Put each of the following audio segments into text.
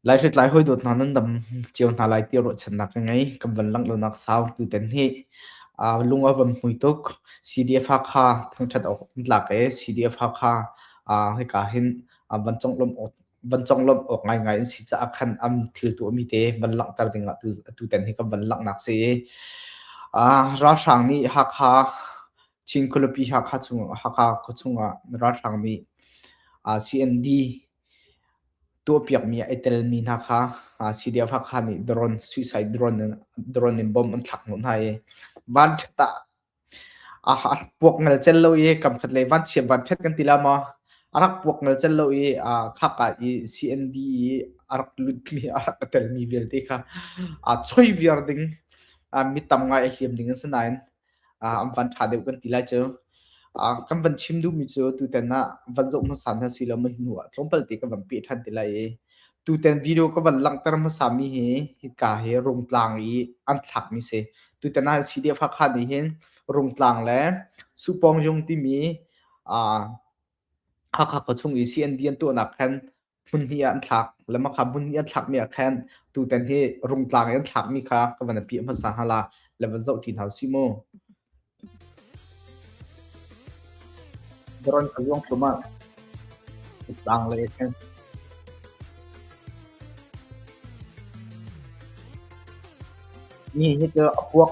Lai hritlai hawidawt hna nan dam cio hna lai ti ruahchannak ka ngei. Kan van langhlonak sau tuten hi lung a van hmui tuk. CDF Hakha thangṭhat awk an tlak i CDF Hakha hika hin van conglawmh awk, van conglawmh awk ngaingai an si caah khan am thiltu a mi te van langhter ding ah tuten hi kan van langhnak si i ralhrang nih Hakha Chin khualipi Hakha chung, Hakha khuachung ah ralhrang nih uh, CND tuahpiakmi a i telmi hna kha uh, CDF Hakha nih drone, suicide drone, drone in bomb an thlak hnawh hna i van tah a puak ngal cel lo i kam khat lei van chiam van thet kan ti la ma arak puak ngal cel lo i khaka i CND i arak lutmi arak telmi vialte kha a choi viar ding mi tam ngai a hliam ding an si nain an van ṭha deuh kan ti lai cu. kan van chim duhmi cu tutan ah van zoh hmasa hna si lo mah hnu ah tlawmpal te kan van peh ṭhan ti lai i tutan video ka van langhter hmasa mi hi hika hi rungtlang i an thlak mi si tutan ah CDF Hakha nih hin rungtlang le supawng jung timi Hakha khuachung i CND an tuahnak khan Hmunhnih ah an thlak. Lama kha hmunhnih an thlakmi ah khan tutan hi rungtlang i an thlakmi kha ka van apiah hmasa hna la, la van zoh ti hna u sih mu. Daron ka luang tlumat. Tlang le khan. Mi hi cu a puak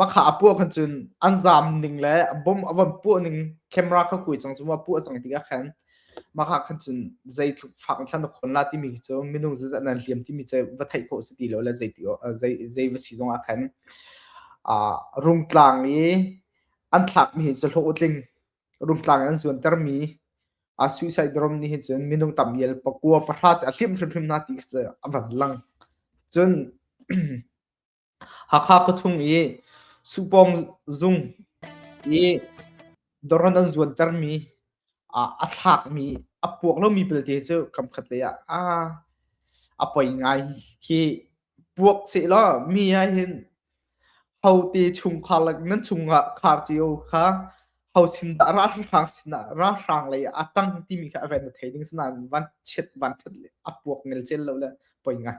Makha a puah khan cun an zaam ning le bomb a von puah ning camera kha kui cang cu ma puah cang tikah khan makha khan cun zeitluk fak in thlan a khawn la timi khi cu minung zeizat nan hliam timi cu va theih khawh si ti lo le zeiti zei va si zongah khan rungtlang i an thlakmi hi cu hlawh tling rungtlang in an zuantermi suicide rom nih hin cun minung tam ial pakua pahra cu a hliam hrimhrim na ti khi cu a van lang cun Hakha khuachung i Supawng zung i dawron an zuantermi a thlakmi a puak lomi belte cu kamkhat lei ah a poi ngai. Khi puak sehlaw mi ahhin hote chungkhar le nan chungah khar cio kha ho sindah ralhrang sinah ralhrang lei ah a ṭang timi kha a van i thei ding. Asinain vanchiat vanṭhat le a puak ngelcel lo le poi ngai.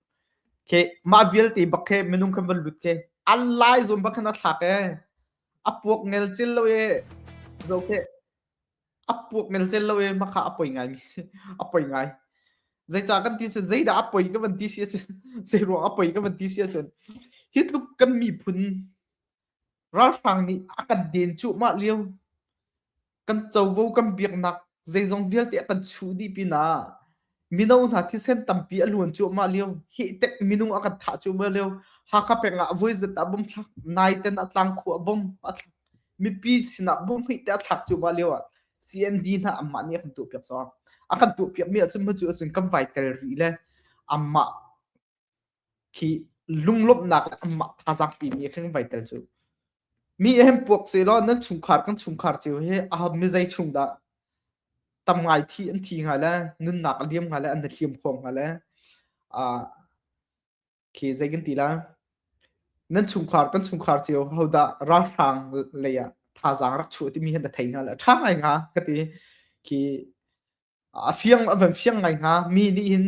Khi mah vialte bak khi minung kan van lut khi an lai zawn bak khan a thlak ee a puak ngel cel lo ee zoh teh a puak ngel cel lo ee makha a poi ngai mi a poi ngai zeicah kan ti cun zeidah a poi ka van ti si ahcun zeiruang a poi ka van ti si ahcun hi tluk kan miphun Ralhrang nih a kan den cuahmah lio kan covo kan biaknak zeizong vialte a kan chuh dih pinah mino hna thisen tampi a luan cuahmah lio hihtek minung a kan thah cuahmah lio Hakha peng ah voizet ah bom thlak naiten a tlangkhuh ah bom a thlak mipi sinah bom hmihte a thlak cuahmah lio ah CND hna anmah nih a kan tuahpiak sawh a kan tuahpiakmi ahcun mah cu ahcun kan vai tel rih le anmah khi lunglawmhnak le amah thazaang pimi he khan in vai tel cu mi he hin puak se law nan chungkhar kan chungkhar cio hi a mizei chung dah tam ngai thi an thi hnga le nunnak a liam hnga le an i hliam khawm hnga le a khi zei kan ti la nan chungkhar kan chungkhar cio ho dah ralhrang lei ah thazaang rak chuah timi hi na thei hnga le a ṭha ngai hnga ka ti khi a fiang an van fiang ngai hnga mi nih hin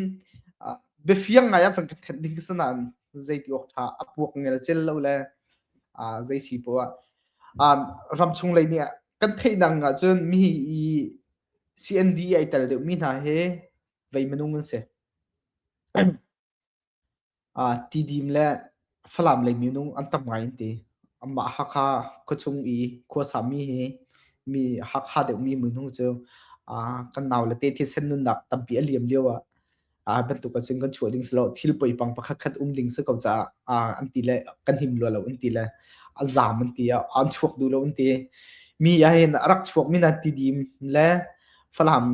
ah biafiang ngai an van ka thenh ding sinain zeiti awk ṭha a puak ngel cel lo le ah zei si poah um ramchung lei nih kan theihnak ahcun mi i CND ai tel deuhmi hna hi vei minung an si. Tidim le Falam lei minung an tam ngai an ti. Anmah Hakha khuachung i khuasami hi mi Hakha deuhmi minung cu kan nau le te thisen nunnak tampi a liam lio ah bantuk ahcun kan chuah ding si lo. Thil poipang pakhatkhat um ding si ko caah an ti le kan him rua lo an ti le an zaam an ti. An chuak duh lo an ti. Mi ahhin a rak chuakmi na Tidim le Falam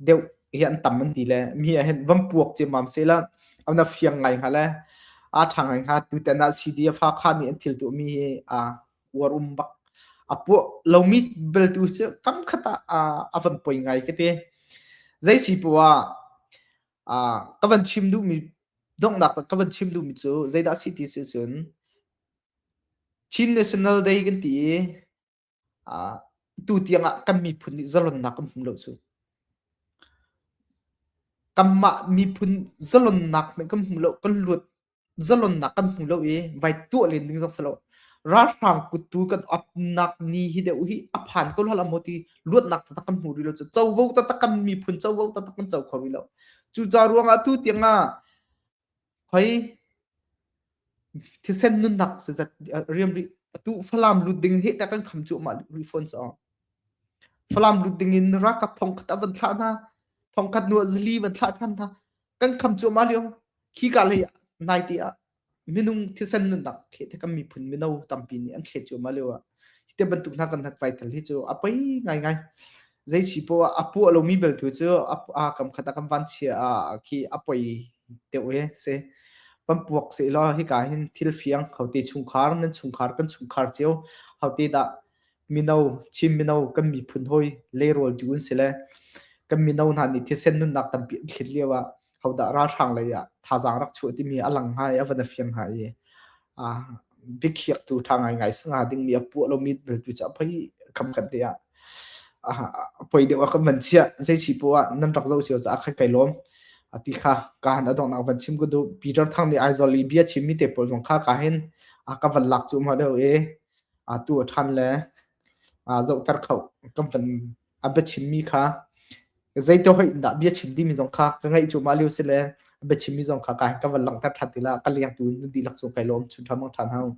deuh hi an tam an ti le mi ah hin van puak ciammam sehla an a fiang ngai hnga le aa ṭhang ngai hnga tutan ah CD a fa kha nih an thil tuahmi hi aa uarum bak a puah lomi beltu cu kam khat ah a van poi ngai ka ti zei si poah ka van chim duhmi donghnak ka van chim duhmi cu zeidah si ti si cun Chin National Day kan ti i Atu tiang ah kan miphun nih zalonnak kan hmu lo cu. Kanmah miphun zalonnak hmanh kan hmu lo, kan luat zalonnak kan hmu lo i vai tuah len ding zong si lo. Ralhrang kut tu kan upnak ni hi deuh hi a phan ko hlah maw ti luatnak taktak kan hmu rih lo cu. Covo taktak kan miphun covo taktak kan co kho rih lo. Cucaah ruang ah tu tiang ah Hoi thisen nunnak zeizat riam rih atu Falam lut ding hi ta kan kham cu mah rih fawn cu. Falam lut ding in rakap thongkhat a van thlah hna. Thongkhat nu zali van thlah than hna. Kan kham cu ma liu khi ka lei nai ti ah minung thisen nunnak khi te kan miphun mino tampi nih an thlet cu ma liu. Hi te bantuk hna kan hat vai tal hi cu a poi ngai ngai. zei si po a puah lomi beltu cu a kam khat a kan van chia a khi a poi deuh he se pan puak se lo hi ka hin thil fiang hote chungkhar nan chungkhar kan chungkhar cheu hote da mino chim mino kan mi phun hoi le rol tu un se le kan mino na ni thisen nun nak tam pi thlit liawa hodah ralhrang lei ah thazaang rak chuah timi a lang hnga i a van a fiang hnga i a biakhiaktu ṭha ngaingai sanga dingmi a puah lomi bel tu cu a poi kam kan te ah a poi deuh a kan van chiah zei si po ah nan rak zoh cio ca khat kai lawm a ti kha ka han adong nak van chim ku du Peter thang ni aizol i bia chim mi te pol zong kha ka hin a ka van lak chu ma deu e a tu a than le a zoh tar kho kan van a biachimmi kha zeitihoih in dah bia chim timi zong kha ka ngaih cu mah lio si le a biachimmi zong kha ka van langhter ṭhan ti la ka lengtu na dihlak cu kai lawm chunṭha mangṭhan hau.